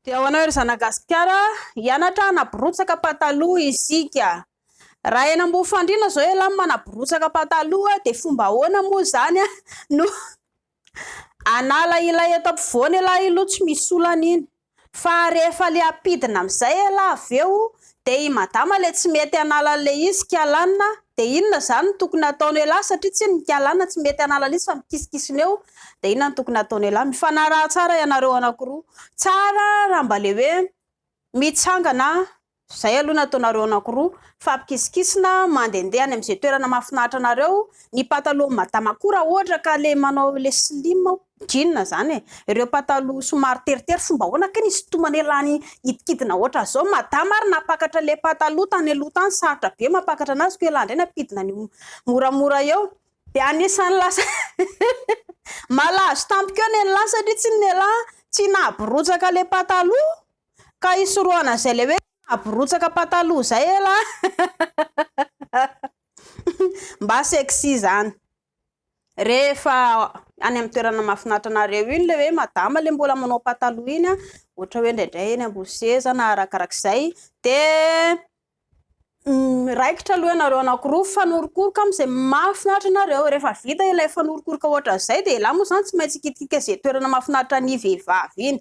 Dia ho anao ry Zanagasikara, hianatra hanaborotsaka pataloha isika. Raha eny Ambohifandriana izao ialahy no manaborotsaka pataloha dia fomba ahoana moa izany no hanala ilay eto ampovoany ialahy aloha tsy misy olana iny. Fa rehefa le hampidina amin'izay ialahy avy eo Dia i madama le tsy mety hanala an'le izy kialana dia inona izany no tokony hataony elah satria tsy ny kialana tsy mety hanala an'le izy fa mikisikisina eo dia inona no tokony hataony elah? Mifanaraha tsara ianareo anankiroa. Tsara raha mba le hoe mitsangana izay aloha ny ataonareo anankiroa mifampikisikisina mandehandeha any amin'izay toerana mahafinaritra anareo. Ny patalohan'i madama koa raha ohatra ka le manao le slim hono. Jeans zany e! Ireo pataloha somary teritery fomba ahoana kay ny isintomana e lany hidikidina hoatra zao madama ary nampakatra le pataloha tany aloha tany sarotra be mampakatra anazy ko elah ndray ny ampidina anio moramora eo de anisany lasa malazo tamiko eo nelah satria tsy nelah tsy nahabirotsaka le pataloha ka hisorohana zay le hoe nahabirotsaka pataloha zay elah mba sexy zany Rehefa any amin'ny toerana mahafinaritra anareo iny ilay hoe madama ilay mbola manao pataloha iny, ohatra hoe indraindray eny ambony seza na arakarak'izay, dia miraikitra aloha ianareo anankiroa mifanorokoroka amin'izay mahafinaritra anareo. Rehefa vita ilay fanorokoroka ohatran'izay, dia ialahy moa izany tsy maintsy hikitikitra izay toerana mahafinaritra ny vehivavy iny.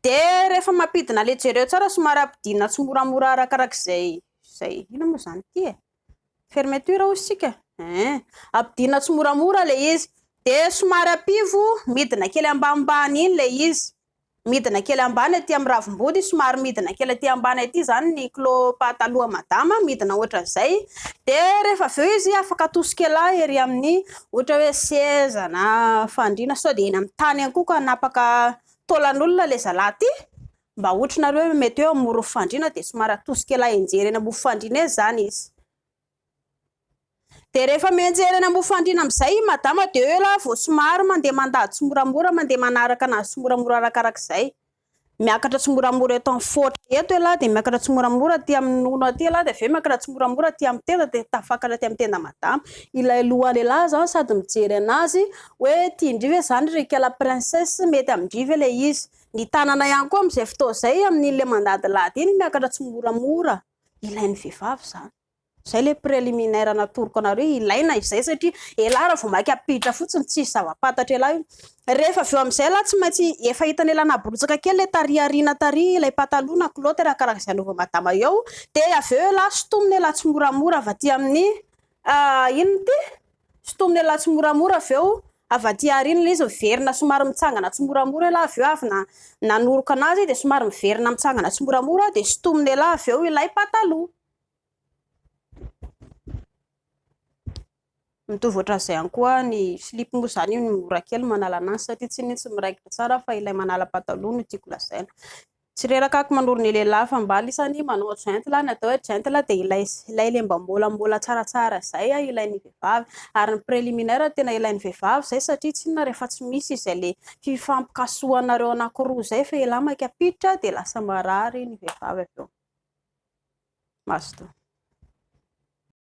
Dia rehefa mampidina ilay jereo tsara somary ampidirina tsimoramora arakarak'izay, izay, inona moa izany ity e? Fermeture hozy tsika eh. Ampidina tsimoramora le izy. De somary ampivo midina kely ambanimbany iny le izy. Midina kely ambany aty amin'ny ravimbody, somary midina kely aty ambany aty zany ny kilo pahataloha madama, midina ohatran'izay. De rehefa avy eo izy afaka atosikela ery amin'ny ohatra hoe seza na fandriana sao de eny amin'ny tany eny koa ka hanapaka taolan'olona le zalahy ty. Mba hoatrinareo hoe mety hoe amoron'ny fandriana dia somary atosika ela enjery eny ambony fandriana eny zany izy. Dia rehefa mienjery eny ambony fandriana amin'izay i madama dia eo ela vao somary mandeha mandady tsimoramora, mandeha manaraka anazy tsimoramora arakarak'izay. Miakatra tsimoramora eto amin'ny foatra eto ela dia miakatra tsimoramora aty amin'ny nono aty ela dia avy eo miakatra tsimoramora aty amin'ny tenda dia tafakatra aty amin'ny tenda madama. Ilay lohan'elah zany sady mijery anazy hoe tian-dry ve zany ry ikala princesse, mety amin-dry ve ilay izy. ny tanana ihany koa amin'izay fotoana izay amin'iny mandadilady iny miakatra tsimoramora ilain'ny vehivavy izany izay ilay préliminaire natoroko anareo ilaina izay satria elah raha vao mainka apiditra fotsiny tsisy zava-pantatra elah io rehefa avy eo amin'izay lah tsy maintsy efa hitan'ny elah naborotsaka kely ilay tariariana tary ilay pataloha na kilaoty raha karaha izay anaova madama eo dia avy eo elah sotomina elah tsimoramora avy aty amin'ny ah, inona ity Sintomina elah tsimoramora avy eo avy aty aoriana ilay izy miverina somary mitsangana tsimoramora elah avy eo avy na nanoroka anazy dia somary miverina mitsangana tsimoramora dia sintomina elah avy eo ilay pataloha mitovy ohatran'izay ihany koa ny slip moa izany io ny mora kely manala anazy satria tsy ny tsy miraikitra tsara fa ilay manala pataloha no tiako lazaina Tsy reraka aky manoro ny lehilahy fa mba lisany manao gentle, ny atao hoe gentle dia ilay ilay le mba mbolambola tsaratsara izay a, ilain'ny vehivavy ary ny preliminaire tena ilain'ny vehivavy izay satria tsy inona rehefa tsy misy izay le fifampikasohanareo anankiroa izay fa ialahy maika ampiditra dia lasa marary ny vehivavy avy eo. Mazotoa.